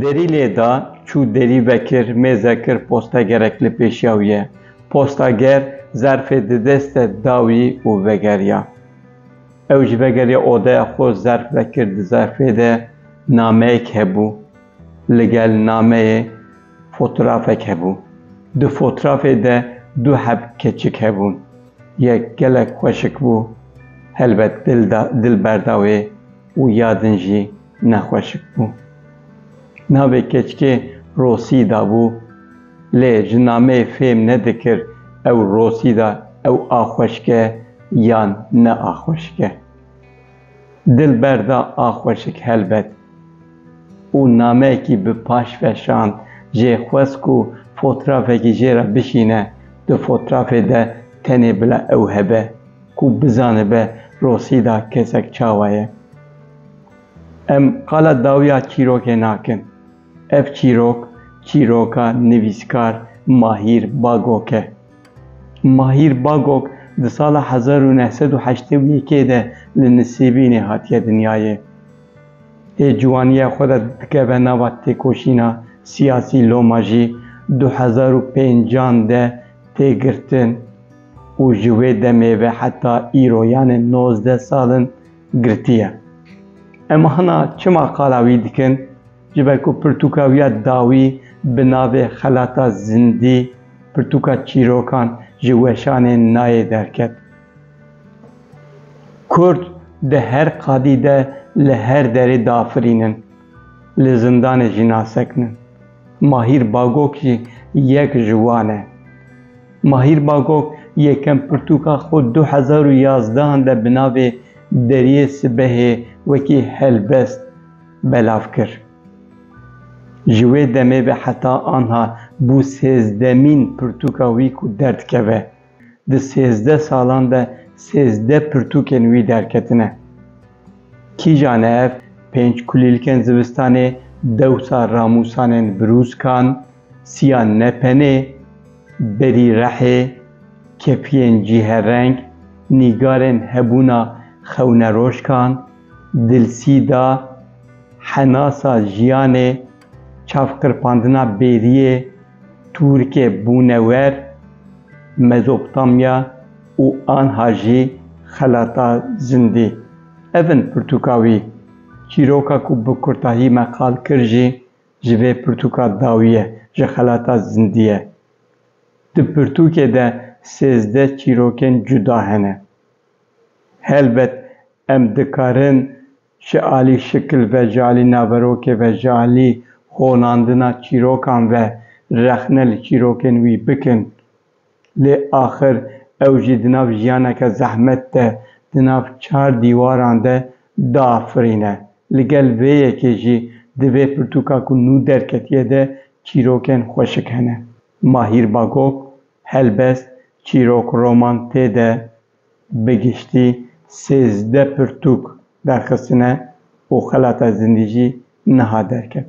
Derî lêda çû derî vekir mêze kir postegerek li pêşiya wî ye. Postager zerfê di deste da wî û vegeriya. Ew ji vegeriya odeya xwe zerf vekir di zerfê de nameyek hebû. Li gel nameyê fotrafek hebû. Di fotrafê de du heb keçik hebûn. Yek gelek xweşik bû, helbet dil berda wê û ya din jî ne xweşik bû. Navê keçikê Rosîda bû. Lê ji nameyê fêm nedikir ew Rosîda ew a xweşik e yan ne a xweşik e. Dil berda a xweşik helbet. Û nameyekî bi paş veşand jê xwest ku fotrafekî jê re bişîne, di fotrafê de tenê bila ew hebe ku bizanibe Rosîda kesek çawa ye. Em qala dawiya çîrokê nakin. Ev çîrok, çîroka nivîskar Mahîr Bagok e. Mahîr Bagok di sala hezar û neh sed û heştê û yekê de li Nisêbînê hatiye dinyayê. Ê ciwaniya xwe de dikeve nava têkoşîna siyasî loma jî du hezar û pêncan de tê girtin û ji wê demê ve heta îro yanê nozdeh sal in girtiye. Em hina çima qala wî dikin? Ji ber ku pirtûka wî ya dawî bi navê Xelata Zindî, Pirtûka Çîrokan ji weşanê nayê derket. Kurd di her qadî de li her derê diafirînin, li zindanê jî nasekinin. Mahîr Bagok jî yek ji wan e. Mahîr Bagok yekem pirtûka xwe du hezar û yazdehan de bi navê Deriyê Sibehê wekî helbest. belav kir. Ji wê demê ve heta anha bû sêzdemîn pirtûka wî ku derdikeve. Di sêzdeh salan de sêzdeh pirtûkên wî derketine. Kîja ne ev pênc kulîlkên zivistanê dewsa ramûsanên birûzkan, siya nepenê, berî rehê, kepiyên cîherreng, nîgarên hebûna xewneroşkan, Dilsîda, Henasa jiyanê, çavqirpandina bêriyê, Tûrikê bûne wer, Mezopotamya û anha jî xelata zindî. Ev in pirtûka wî. Çîroka ku bi kurtahî me qal kir jî ji vê pirtûka dawî ye, ji xelata zindî ye. Di pirtûkê de sêzdeh çîrokên cuda hene. Helbet em dikarin ji alî şikil ve, ji alî naverokê ve, ji alî xonandina çîrokan ve rexne li çîrokên wî bikin. Lê axir ew jî di nav jiyaneke zehmet de, di nav çar dîwaran de diafirîne. Li gel vê yekê jî di vê pirtûka ku nû derketiye de çîrokên xweşik hene. Mahîr Bagop, Helbest çîrok roman tê de bi giştî sêzdeh pirtûk derxistine û xelata zindî jî niha derket.